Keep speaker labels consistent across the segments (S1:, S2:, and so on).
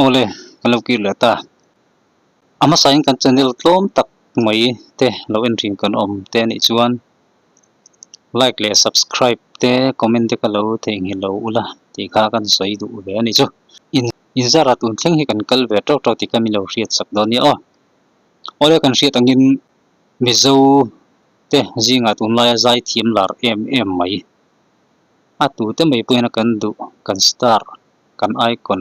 S1: Awle kan lo kir leh ta a hmasain kan channel tlawm tak mai te lo en rin kan awm te a nih chuan like leh subscribe te comment te ka lo thei nghil lo ula tih kha kan sawi duh ve a ni chu in in zara tun thleng hi kan kal ve tawk tawk tih ka mi lo hriat sak dawn nia aw awle kan hriat angin Mizote zingah tun laia zai thiam lar em em mai a tute mai pawhin kan duh kan star kan icon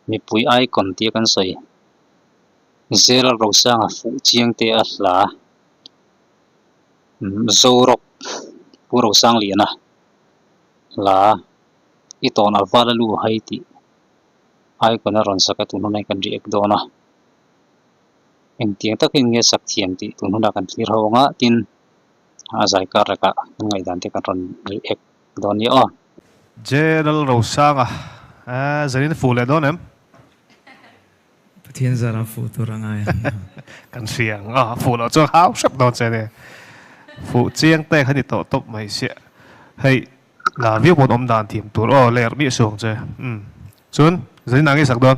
S1: mipui icon tia kan sawi Zelal Rosanga fuh chiang te a hla umm Zorok Pu Rosangliana hla i tawn aval alu hai tih icon a rawn sak a tun huna hi kan ri ek dawn a. Engtiang takin nge sak thiam tih tun hunah kan thlir ho ang a, tin a zai kar lekah kan ngaihdan te kan rawn ri ek dawn nia aw. General
S2: Rosanga, Aaa, Zenin fuh leh dawn em?
S3: Pathian zarah fuh tur a ngai ang nia. Kan hria
S2: ang aw, fuh loh chuan hau hrep dawn che nia. Fuh chiang te kha ni tawh tawp mai sia. Hei, la viau pawn awm dan thiam tur aw, ler miah suh ang che. Umm. Chuan, Zenin a nge sak dawn?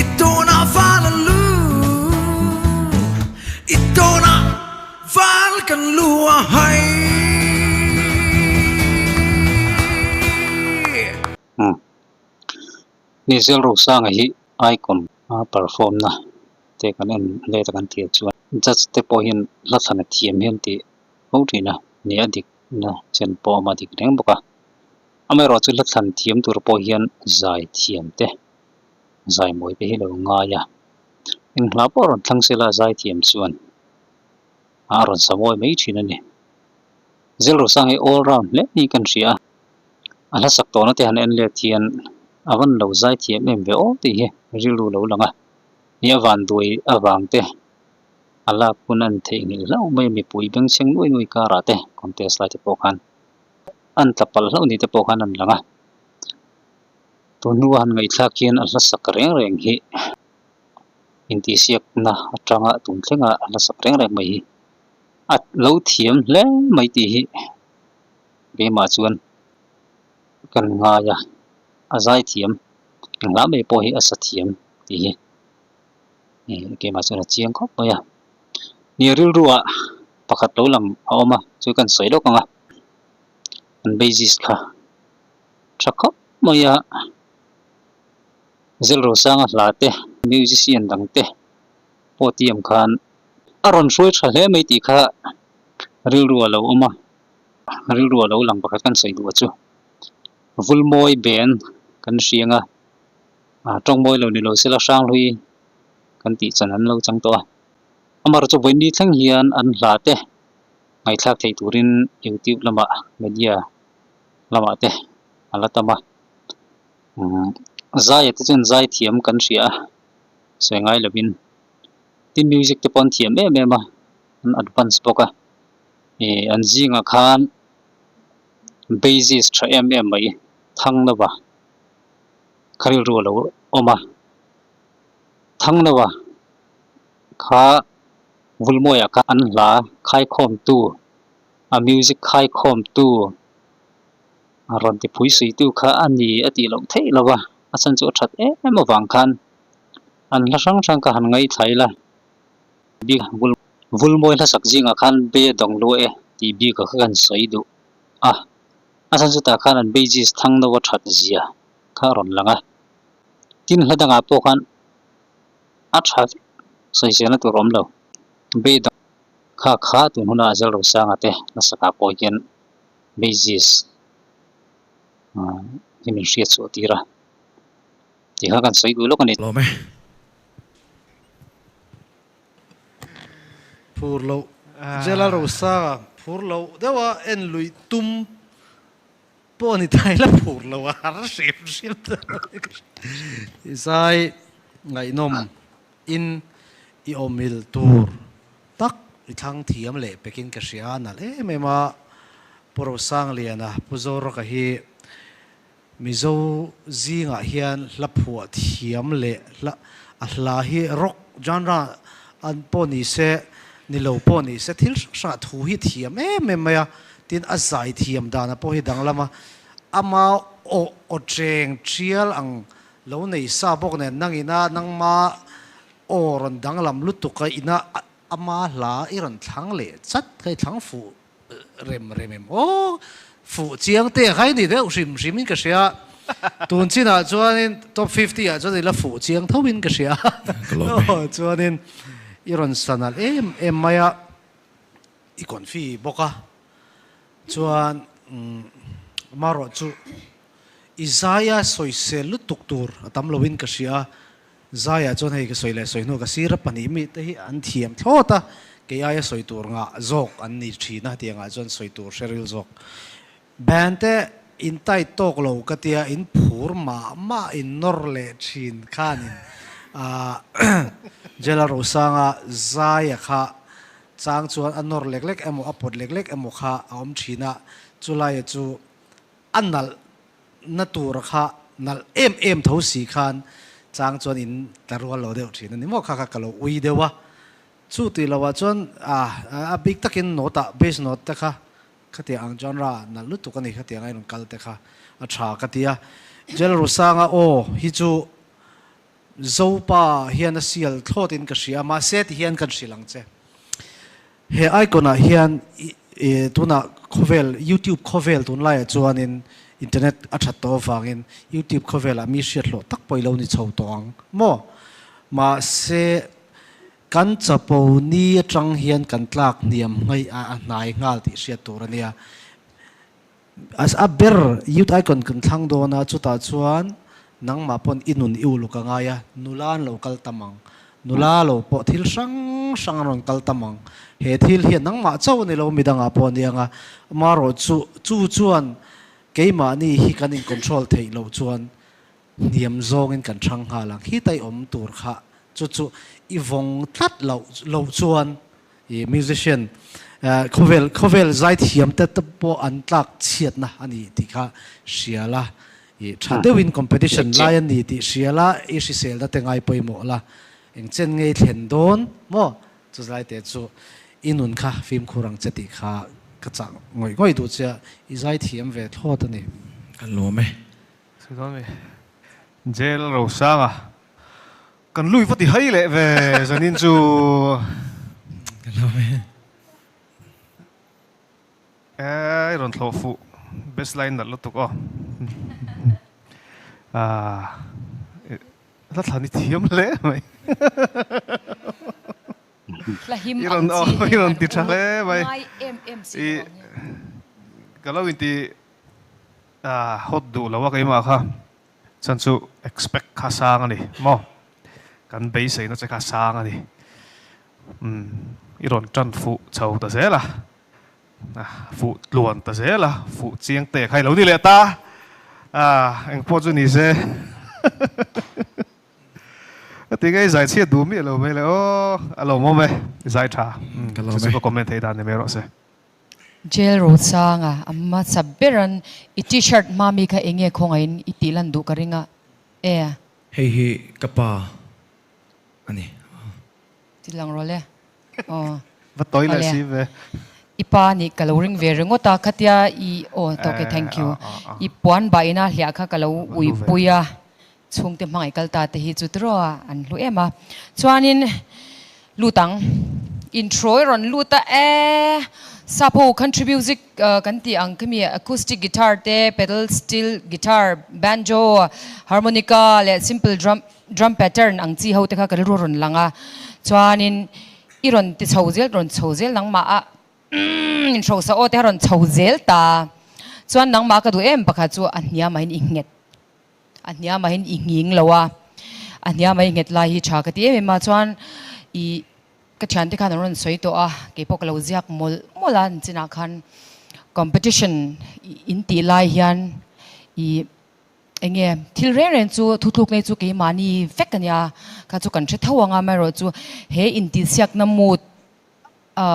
S3: I tuna val a lu I tuna val kan lu a hai Umm
S1: ni zel ro sang hi Icon a perform na te kan en let a kan tir chuan judge te pawh hian hla thlana thiam hian ti ho thin a ni a dik na chen pawh awm a dik reng bawk a amaherawhchu hla thlan thiam tur pawh hian zai thiam te Zaimawite hi lo ngai a, eng hla pawh a rawn thlang sil a, a zaithiam chuan a rawn samawi mai thin a ni. Zilrusang hi all round hle ni kan hria a, a hlasak tawhna te han en let hian a van lo zaithiam em ve aw tih hi rilru lo lang a, ni a vanduai avang te a lak hun a ni theihnghilh hlauh mai a, mipui bengchheng nuai nuai karah te contest lai te pawh khan a ni tla palh hlauh ni te pawh khan a ni lang a. Tun hnua han ngaihthlak hian a hlasak reng reng hi intihsiakna atanga tun thleng a a hlasak reng reng mai hi a lo thiam hle mai tih hi keimah chuan kan ngai a a zai thiam englam mai pawh hi a sa thiam tih hi keimah chuan a chiang khawp mai a ni rilruah pakhat lo lang a awm a chu kan sawi lawk ang a an basis kha Tha khawp mai a, Zelrosanga hla te, musician dang te pawtiam khan a rawn hruai tha hle mai tih kha rilru a lo awm a, rilru a lo lang pakhat kan sawi duh a chu Vulmawi Ben kan hria anga Tawngmawi lo ni lo sela Hranghlui kan tih chan an lo chang tawh a, amar chu vawiin ni thleng hian an hla te ngaithlak thei turin YouTube lamah media, lamah te a la tam a, umm zaia te chuan zai thiam kan hria a, sawi ngai lovin tin music te pawh an thiam em em a, an advance bawk a, ih an zingah khan basis tha em em mai Thangnova kha rilru a lo awm a, Thangnova kha Vulmuaia kha an hla a, Khaikhawmtu. A music khaikhawmtu, a rawn tipui suitu kha a ni a tih loh theih lo a, a chhan chu a that em em avang khan an hla hrang hrang ka han ngaithla ila bik ah vul vul mawi hlasak zingah khan be dawng lua e tih bik ah kha kan sawi duh a, a chhan chutah khan an beijis thang no a that zia kha a rawn lang a, tin hla dangah pawh khan a tha vek sawi zel na tur a awm lo be dawng. Kha kha tun huna Zelro Sanga te nasaka pawh hian Basis hi min hriat chu a tir a, tih kha kan sawi duh lawk a ni. Hlawm e.
S3: Phur loh Zelro Sanga phur loh deuha en lui tum. Pawh a ni thai la phur lo a har hrim hrim ta hi ka hre. Zai ngaihnawm in i awmil tur tak i thlang thiam leh pek in ka hria a nalh em em a Pu Rosanglian a Pu Zoraka hi Mizo zingah hian hla phuah thiam leh hla a hla hi rock genre An pawh ni se, ni lo pawh ni se, thil hrang hrangah thu hi thiam em em mai a, tin a zai thiam dana pawh hi danglam a, ama aw aw cheng thial ang lo nei sa bawk nen, nang ina nangma aw rawn danglam lutuk a, ina ama hla i rawn thlang leh chat, ka i thlang fuh rem rem em aw fuh chiang te khai ni deuh hrim hrim in ka hria tun chin ah chuan in top fifty ah chuan ila fuh chiang tho in ka hria aw chuan in i rawn san alh em em mai a i kawn fi bawk a chuan marawh chu i zai a sawi sel lutuk tur a tam lo in ka hria. Zaiah chuan hei ka sawi leh sawi hnu ka sir a pahnih mi te hi an thiam thlawt a, kei aia sawi tur ngah zawk an ni thin a tiang ah chuan sawi tur hre ril zawk. Band te in tight tawk lo ka tia in phur mah mah in nawr leh thin khan in Jela Rosanga Zaiah kha chang chuan a nawr lek lek emaw a pawt lek lek emaw kha a awm thin a, chu lai chu. A nalh na tur kha nalh em em tho si khan chang chuan in tla rual lo deuh thin a ni maw kha kha ka lo ui deuh a, chu tih lo ah chuan a bik tak in note ah bass note te kha kha tiah ang genre ah nalh lutuk a ni kha tiang a i rawn kal te kha a tha ka ti a, Jalrusang a aw hi chu Zopa hian a sial thlawt in ka hria mahse ti hian kan hrilh ang che. He icon-ah hian i tunah khawvel, YouTube khawvel tun laiah chuanin internet a that tawh avangin YouTube khawvelah mi hriathlawh tak pawh i lo ni chho tawh ang maw? Mahse, kan chapo ni atang hian kan tlak hniam hmaiha a hnai nghal tih hriat tur a nia. A ber youth icon kan thlang dawn a, chutah chuan nangmah pawn i nun i uluk a ngai a, nula an lo kal tam ang, nula lo pawh thil hrang hrang an rawn kal tam ang, he thil hian nangmah chauh a ni lo midang ah pawh a ni ang a, amarawhchu chu chuan keimahni hi kan in control theih loh chuan Hniam zawngin kan hrang nghal ang, khit a i awm tur kha chu chu i vawng tlat loh loh chuan i musician khawvel khawvel zai thiam te te pawh an tlak chhiatna a ni tih kha hria la i tha deuhin competition lai a ni tih hria la i hrisel da te ngai pawimawh la eng chen ngei thlen dawn maw chu zai te chu i nun kha fimkhur ang che tih kha ka chah ngawih ngawih duh che
S4: a
S3: i zai thiam ve
S4: thlawt
S3: a ni. Ka lawm
S4: e.
S3: Sawi dawn ve.
S2: Jail Rosanga, kan lui va ti hai leh ve zanin chu
S3: Ai rawn thlawh
S2: fuh best line nalh lutuk aw ahh hla thlan i thiam hle mai
S4: i rawn aw i rawn ti tha hle mai i
S2: ka lo inti. A hot duh lo a keimah kha chuan chu expect kha sang a ni maw? Kan beiseina che kha sang a ni. Umm, i rawn tan fuh chho ta zel a, a fuh tluan ta zel a, fuh chiang te kha i lo ni leh ta a, eng pawh chu ni se. Ka ti nge i zaichhiat duh miah lo mai le aw, a lawm awm e,
S4: i zai tha. Chu chu ka comment thei dan ni mai rawh se. Jail ro chang a, a hmasa ber an i t-shirt hma mi kha enge khawngaih in i tih lan duh ka ring a e.
S3: Hei hi ka pa a ni aw.
S4: Ti lang rawh le aw.
S2: Va tawi leh si ve. I pa a nih ka lo
S4: ring ve ringawt a, khatia i aw tawk e thank you i puan bah in a hliah kha ka lo uipui a. Chhungte hmangaih kal ta te hi chu tirawa an hlu em a. Chuanin lut ang. Intro i rawn lut a e. Sapo country music kan tih ang khemi acoustic guitar te pedal steel guitar, banjo, harmonica leh simple drum drum pattern ang chi ho te kha kan ru rawn lang a. Chuanin i rawn ti chho zel rawn chho zel nangmah a umm in hrosa aw te kha rawn chho zel ta. Chuan nangmah ka duh em pakhat chu a hniamah in i nghet. A hniamahin i nghing lo a, a hniamah i nghet lai hi tha ka ti em em a, chuan i ka thiante khan a rawn sawi tawh a, kei pawh ka lo ziak mawlh mawlh a, an chinah khan competition in tih lai hian i eng nge thil reng reng chu thu tluk ngei chu keimahni vek a nia, kha chu kan hre tho ang a, amaherawhchu he intihsiakna mood a.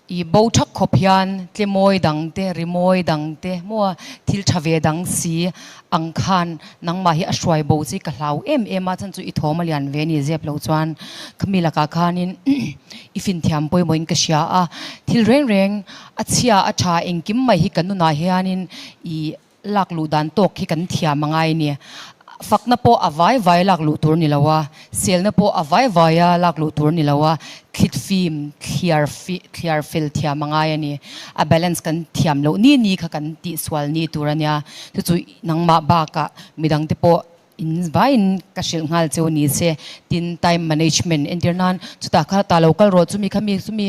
S4: I bo thak khawp hian tle mawi dang te, ri mawi dang te, maw thil tha ve dang si ang khan nangmah hi a hruai bo chu i ka hlau em em a, chhan chu i thawm a lian ve ni zep lo chuan khami lakah khanin i fin thiam pawimawh in ka hria a, thil reng reng a chhia a tha engkim mai hi ka nunah hianin i lak luh dan tawk hi kan thiam a ngai nia, fakna pawh a vai vai lak luh tur ni lo a, selna pawh a vai vai a lak luh tur ni lo a, thlitfim thliar thliar fel thiam a ngai a ni. A balance kan thiam loh ni ni kha kan tihsual ni tur a nia, chu chu nangmah bakah midangte pawh, In vaiin ka hrilh nghal che u ni che. Tin, time management entir nan chutah kha ta lo kal rawh chu mi kha mi chumi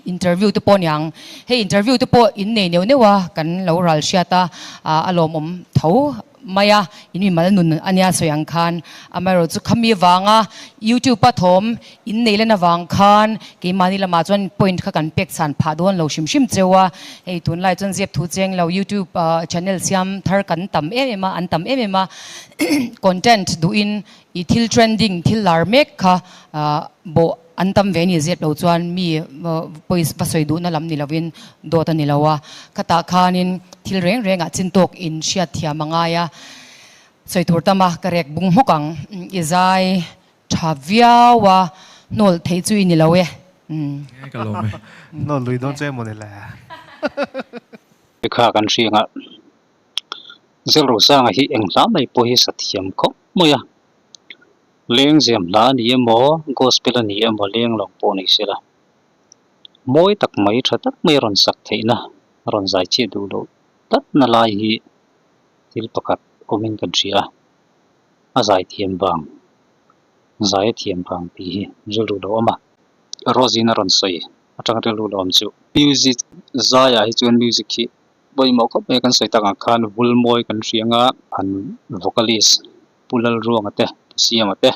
S4: interview te pawh ni ang. Hei interview te pawh in nei neuh neuh a kan lo ral hriat a, a lawmawm tho mai a, in mimal nun a nia sawi ang khan. Amaherawhchu khami vanga youtube a thawm. In nei lan avang khan keimahni lamah chuan point kha kan pek chhan phah dawn lo hrim hrim cheu a, hei tunlai chuan ziak thu cheng lo youtube channel siam thar kan tam em em a, an tam em em a content duhin i thil trending thil lar mek kha bawh an tam ve ani zep lo chuan mi pawi va sawi duhna lam ni lovin dawt ani lo a, khatah khanin thil reng rengah chin tawk in hriat thiam a ngai a, sawi tur tam a ka rek bung hmawk ang i zai
S3: Tha viau a hnawl theih chu i ni lo e. Umm. Nge ka lawm e. Hnawl lui dawn chu
S2: emaw ni le. Hei kha kan hriang a, Zelro Sanga hi eng hla mai pawh hi sathiam khawp mai a. Leng ziam hla a ni emaw, gospel a ni emaw leng lawng pawh nei sela, mawi tak mai, tha tak mai a rawn sak theihna, a rawn zai chiah duh loh tatna lai hi thil pakhat
S1: awmin kan hria a. A zai thiam vang, zai a thiam vang tih hi ril ru lo awm a, Rosy-in a rawn sawi a tang ril ru lo awm chu. Music zaiah hi chuan music hi pawimawh khawp mai a kan sawi tak ang khan vul mawi kan hria nga, an vocalist Pu Lalruanga te, Pu Siama te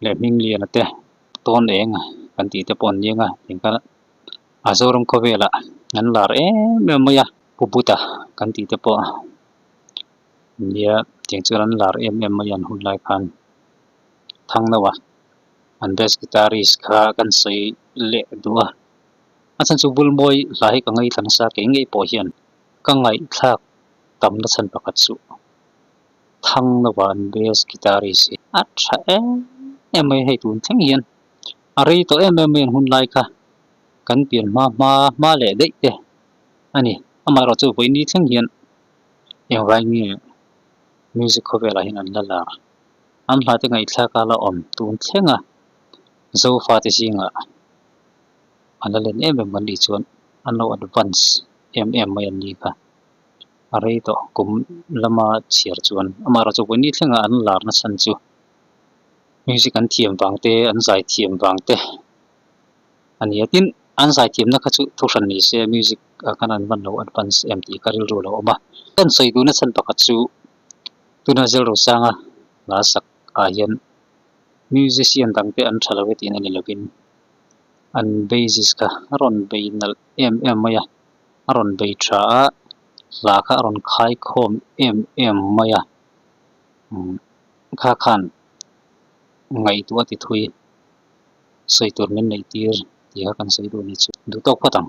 S1: leh Hming Liana te tawn eng kan tih te pawh an ni ang a, tiang khan a Zoram khawvelah an lar em em mai a, Pu Buddha kan tih te pawh India tiang chuan an lar em em mai an hun lai khan thang lo a an bass guitarist kha kan sawi leh duh a a chhan chu bul mawi hla hi ka ngei thla nasa keng ngei pawh hian ka ngaihthlak tam na chhan pakhat chu thang lo a an bass guitarist hi a tha em em mai hei tun thleng hian a rei tawh em em mai an hun lai kha kan pian hma hma hma leh daih te a ni amaherawhchu vawi ni thleng hian. Engvai nge music khawvelah hian an la la? An hmate ngaihthlak a la awm tun thleng a, Zofate zingah a la len em em kan tih chuan an lo advance em em mai an ni kha. A rei tawh kum lama chhiar chuan amah erawh chu a buai ni thleng a, an lar nasa chu music an thiam vang te, an zai thiam vang te. a nia. Tin, an zaithiamna kha chu thu hran ni se, music ah khan an vanlo advance em tih ka rilru lo awm a. Kan sawi duhna chhan pakhat chu tuna Zelrosanga la sak ah hian musician dangte an tha lo e tihna ni lovin, an basis kha a rawn bei nalh em em mai a, a rawn bei tha a, hla kha a rawn khai khawm em em mai a, kha khan ngaihtuah a ti thui. sawi tur min neih tir ti kha kan sawi duh ni chu duh tawk phawt ang.